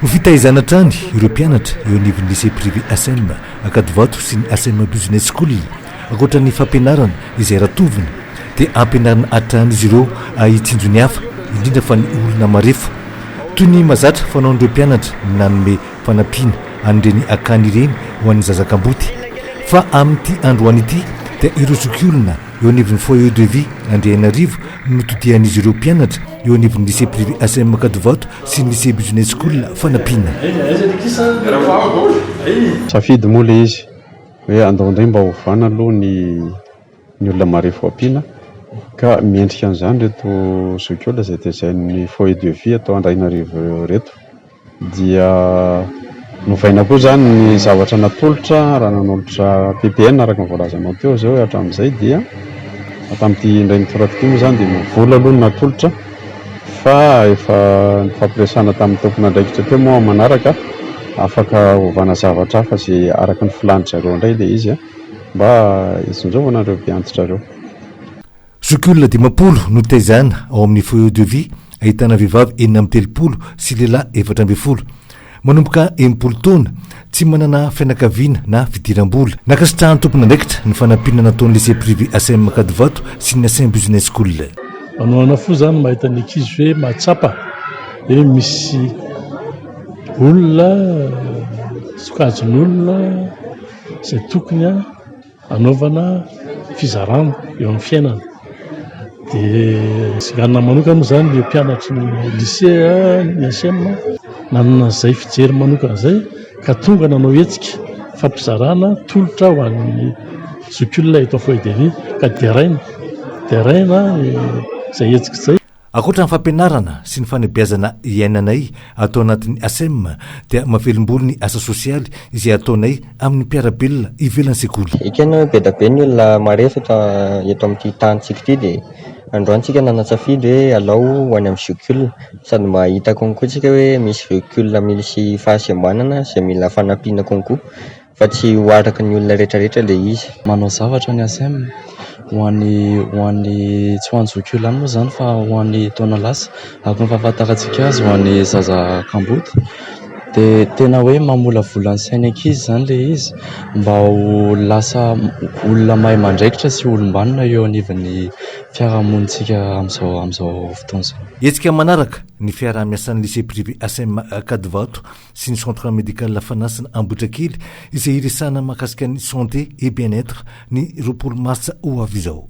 Ho fitaizana hatrany ireo mpianatra eo anivon'ny Lycée Privé Asem Ankadivato sy ny Asem Business School. Ankoatra ny fampianarana izay ratoviny dia ampianarina hatrany izy ireo hitsinjo ny hafa indrindra fa ny olona marefo. Toy ny mahazatra fanaon'ireo mpianatra ny nanome fanampiana an'ireny akany ireny ho an'ny zaza kamboty fa amin'ity androany ity dia ireo zokiolona eo anivon'ny Foyer de Vie Andriainarivo no todian'izy ireo mpianatra eo anivon'ny Lycée Privé Asem Makadivato sy ny Lycée Business School fanampiana. Safidy moa ilay izy hoe andao indray mba ovana aloha ny ny olona marefo ampiana ka miendrika an'izany ireto zokiolona izay tezain'ny Foyer de Vie ato Andrainarivo ireto dia novaina koa izany ny zavatra natolotra raha nanolotra PPN araka ny voalazanao teo izay hoe hatramin'izay dia tamin'ity indray mitoraka ity moa izany dia mivola aloha ny natolotra fa efa nifampiresahana tamin'ny tompon'andraikitra teo moa amin'ny manaraka afaka hovana zavatra hafa izay araka ny filàn'ny zareo indray ilay izy mba hitsinjovana ireo mpiantitra ireo. Zokiolona dimampolo no taizana ao amin'ny Foyer de Vie ahitana vehivavy enina amby telopolo sy lehilahy efatra ambin'ny folo. Manomboka enimpolo taona, tsy manana fianakaviana na fidiram-bola. Nankasitrahan'ny tompon'andraikitra ny fanampiana nataon'ny Lycée Privé Asem Ankadivato sy ny Asem Business School. Manao ahoana fo zany mahita ny ankizy hoe mahatsapa hoe misy olona sokajin'olona izay tokony a. Anaovana fizarana eo amin'ny fiainana dia tsy anona manokana moa izany ireo mpianatry ny lisea ny HM nanana izay fijery manokana izay ka tonga nanao hetsika fampizarana tolotra ho an'ny zokiolona eto Foibe ka deraina deraina izay hetsika izay. Ankoatra ny fampianarana sy ny fanabeazana iainanay ato anatin'ny ASEM dia mavelombolo ny asa sosialy izay ataonay amin'ny mpiara-belona ivelan'ny sekoly. Ekena be da be ny olona maresaka eto amin'ity tanintsika ity dia androany tsika nanatsafidy hoe alao ho any amin'ny Jocul sady mba hahita konko tsika hoe misy Jocul misy fahasembanana izay mila fanampiana konko. fa tsy ho araka ny olona retraretra le izy. Manao zavatra ny Acem ho an'ny ho an'ny tsy ho an'ny zoky olona ihany moa izany fa ho an'ny taona lasa araka ny fahafantarantsika azy ho an'ny zaza kamboty dia tena hoe mamolavola ny sain'ny ankizy izany le izy mba ho lasa olona mahay mandraikitra sy olom-banona eo anivon'ny fiarahamonintsika amin'izao amin'izao fotoana izao. Hetsika manaraka ny fiaraha-miasan'ny Lycée Privé Acem Ankadivato sy ny Centre Médical Fanasina Ambohitrakely izay hiresahana mahakasika ny Santé et Bien-être ny roapolo martsa ho avy izao.